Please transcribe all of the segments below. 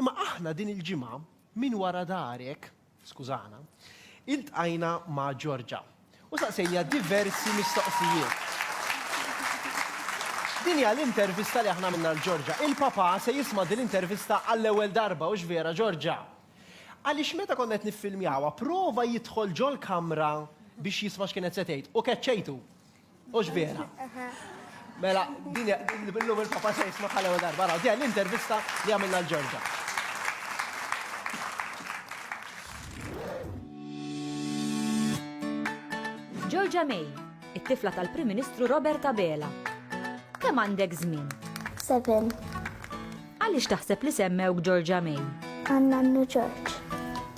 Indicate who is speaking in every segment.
Speaker 1: Imma aħna din il-ġimgħa minn wara darek, skużana, iltqajna ma' Georgia u saqsejniha diversi mistoqsijiet. Din hija l-intervista li aħna għamilna l Georgia. Il-papa se jisma' din l-intervista għall-ewwel darba, hux vera Georgia? Għaliex meta konna qed niffilmjawha, prova jidħol ġol-kamra biex jisma' x'kienet se tgħid u keċċejtu. Ux vera. Mela, din bil-lum il-papa se jisma ħal ewwel darba. Raw, din l-intervista li għamilna l-Ġorġa.
Speaker 2: Ġorġa May, it-tifla tal-Prim Ministru Robert Abela. Kemm għandek żmien? Seven. Għaliex taħseb li semmewk Georgia May? Għan nannu
Speaker 3: George.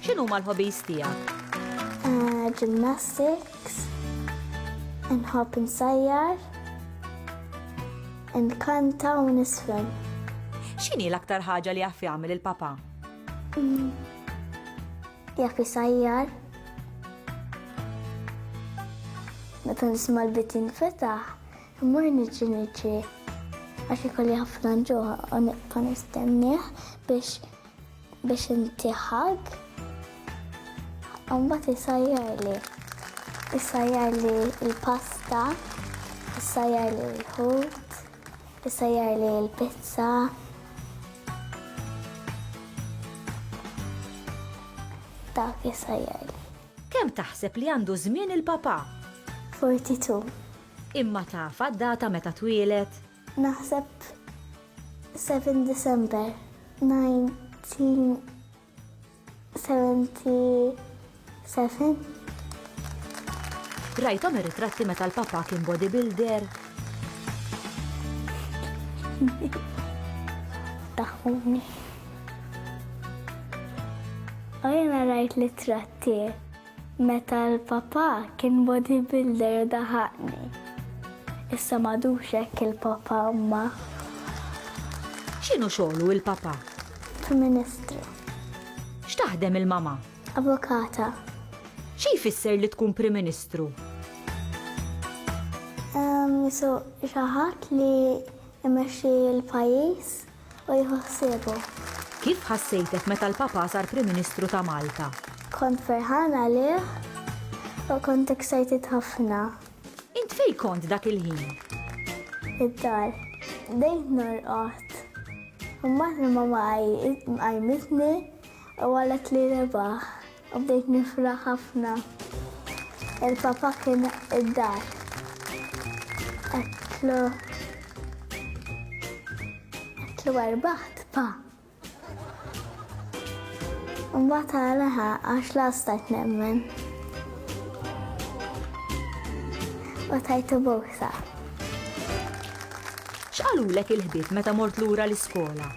Speaker 3: X'inhuma
Speaker 2: l-hobbies tiegħek? Eh, gymnastics,
Speaker 3: nħobb insajjar, nkanta u nisfel. X'inhi
Speaker 2: l-aktar ħaġa li jaf jagħmel il-papa? Mm.
Speaker 3: Jaf isajjar. Meta nisma' l-bit jinfetaħ, Immur niġi niġri għax ikolli ħafna nġuħ u nibqa' nistennieh biex biex inti ħag. Mbagħad isajjar li isajjar li l-pasta, isajjar li l-ħut, isajjar li l-pizza. Dak isajjar li. Kemm taħseb
Speaker 2: li għandu żmien il-papa? 42.
Speaker 3: Imma
Speaker 2: tafha d-data meta twieled? Naħseb
Speaker 3: 7 December
Speaker 2: 1977. Rajthom ir-ritratti meta l-papà kien bodybuilder?
Speaker 3: Daħħuni. U jiena rajt l-ittratti. Meta l-papà kien bodybuilder u daħaqni. Issa m'għadux hekk il-papà imma.
Speaker 2: X'inhu xogħlu il-papà? Prim Ministru. X'taħdem il-mamà? Avukata.
Speaker 3: Xi
Speaker 2: jfisser li tkun Prim Ministru?
Speaker 3: Ehm, so xi ħadd li jmexxi l-pajjiż. u jieħu ħsiebu. Kif
Speaker 2: ħassejtek meta l-Papa sar Prim Ministru ta' Malta? Kont ferħan
Speaker 3: għalih u kont excited ħafna. Int fej
Speaker 2: kont dak il-ħin?
Speaker 3: Id-dar. Dejt norqot. Ummat li mama għajmitni u għalet li rebaħ. Bdejt nifraħ ħafna. Il-papa kien id-dar. Għedtlu. Għedtlu għarbaħt, pa. Mbagħad għalaha għax lastajt nemmen. U tajtu busa.
Speaker 2: X'qalulek il-ħbieb meta mort lura l-iskola?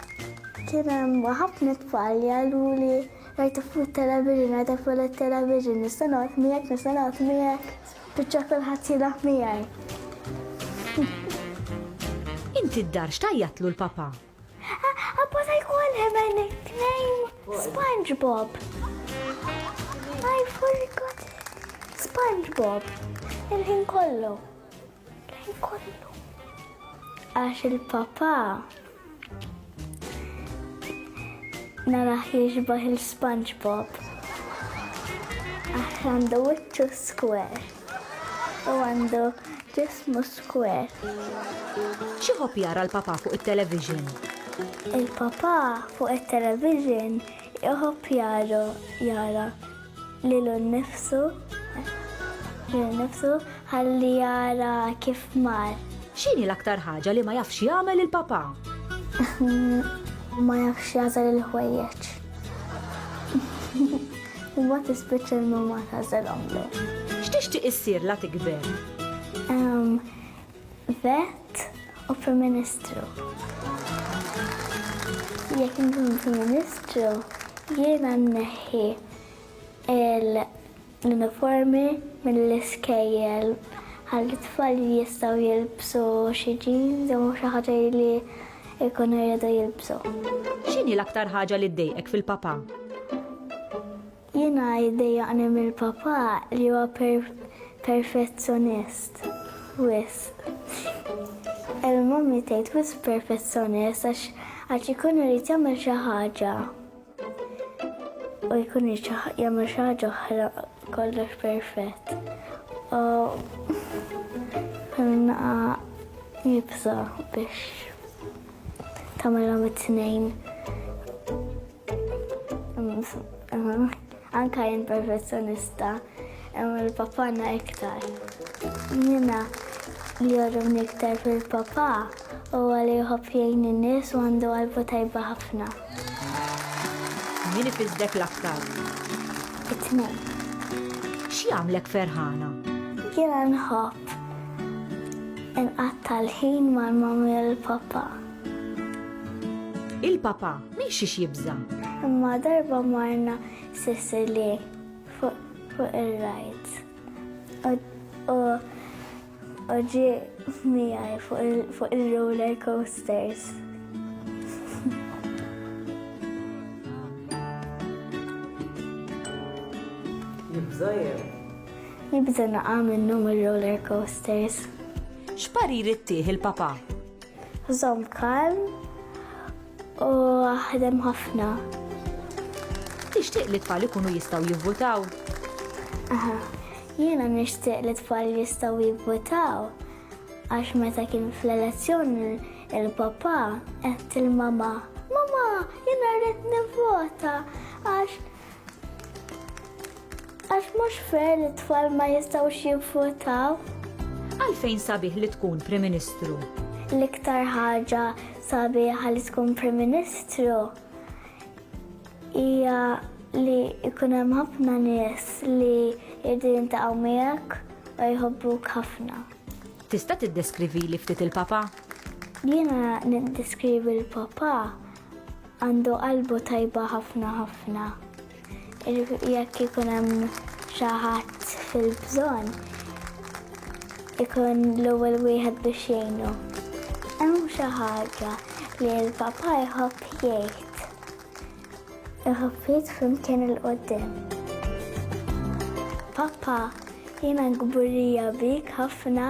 Speaker 2: Kien hemm
Speaker 3: ħafna tfal jgħiduli Rajtu fuq it-television, rajtek fuq it-television, nista' noqgħod miegħek, nista' noqgħod miegħek, spiċċa kulħadd jilgħab miegħi.
Speaker 2: Inti d-dar x'tgħajjatlu l-papa? Appa
Speaker 3: ta' jkun hemm tnejn SpongeBob. I forgot SpongeBob. Il-ħin kollu. Lejn kollu. Għax il-papa naraħ jiġbaħ il-SpongeBob. Għax għandu wiċċu square. U għandu ġismu square.
Speaker 2: Xieħob jara l-papa fuq il-television? Il-papa
Speaker 3: fuq il-television jħob jara jara lilu nnifsu, lilu nnifsu ħalli jara kif mar. X'inhi l-aktar
Speaker 2: ħaġa li ma jafx jagħmel il-papà?
Speaker 3: Ma jafx jagħżel il-ħwejjeġ. Imma tispiċċa l-mamma tagħżelhomlu. X'tixtieq
Speaker 2: issir la tikber?
Speaker 3: Vet u Prim Ministru. Jekk inkun Prim Ministru, jiena nneħħi l-uniformi mill-iskejjel għal tfal li jistgħu jilbsu xi jeans jew xi ħaġa li jkunu jridu jilbsu. X'inhi l-aktar
Speaker 2: ħaġa li ddejqek fil-papà?
Speaker 3: Jiena jdejjaqni mill-papà li huwa perfezzjonist wisq. Il-mommy tgħid wisq perfezzjonist għax għax ikun irid jagħmel xi ħaġa u jkun irid jagħmel xi ħaġa oħra kollox perfett. U naqa jibsa biex tagħmilhom it-tnejn. Anka jien perfezzjonista, il-papana iktar. Jiena li jorrumni iktar fil-papa u għalli jħobb jgħin in-nies u għandu għalbu tajba ħafna.
Speaker 2: Min ifizdek l-aktar?
Speaker 3: It-tnejn.
Speaker 2: X'jagħmlek ferħana? Jiena
Speaker 3: nħobb inqatta' l-ħin mal-mamma u l-papa.
Speaker 2: Il-papa minn xiex jibża. Imma darba
Speaker 3: marna Sicily fuq il-rajt. U ġi miegħi fuq il-roller coasters. Jibża jew? Jibża naqa' minnhom ir-roller coasters. X'parir
Speaker 2: ittih il-papa? Żomm
Speaker 3: kalm u aħdem ħafna.
Speaker 2: Tixtieq li t-tfal ikunu jistgħu jivvutaw? Aha,
Speaker 3: jiena nixtieq li t-tfal jistgħu jivvutaw għax meta kien fl-elezzjoni il-papa qed il-mama. Mama, jiena rrid nivvota għax Għax mhux fair li t-tfal ma jistgħux jivvotaw. Għalfejn
Speaker 2: sabiħ li tkun Prim Ministru? L-iktar
Speaker 3: ħaġa sabiħa li tkun Prim Ministru hija li jkun hemm ħafna nies li jridu jintaqgħu miegħek u jħobbuk ħafna. Tista'
Speaker 2: tiddeskrivi li ftit il-papa? Jiena
Speaker 3: niddeskrivi l-papa Għandu qalbu tajba ħafna ħafna. Jekk ikun hemm xi ħadd fil-bżonn, ikun l-ewwel wieħed biex jgħinu. Hemm xi ħaġa li l-papa jħobb jgħid. Iħobb jgħid flimkien il-qoddim. Papa, jiena kburija bik ħafna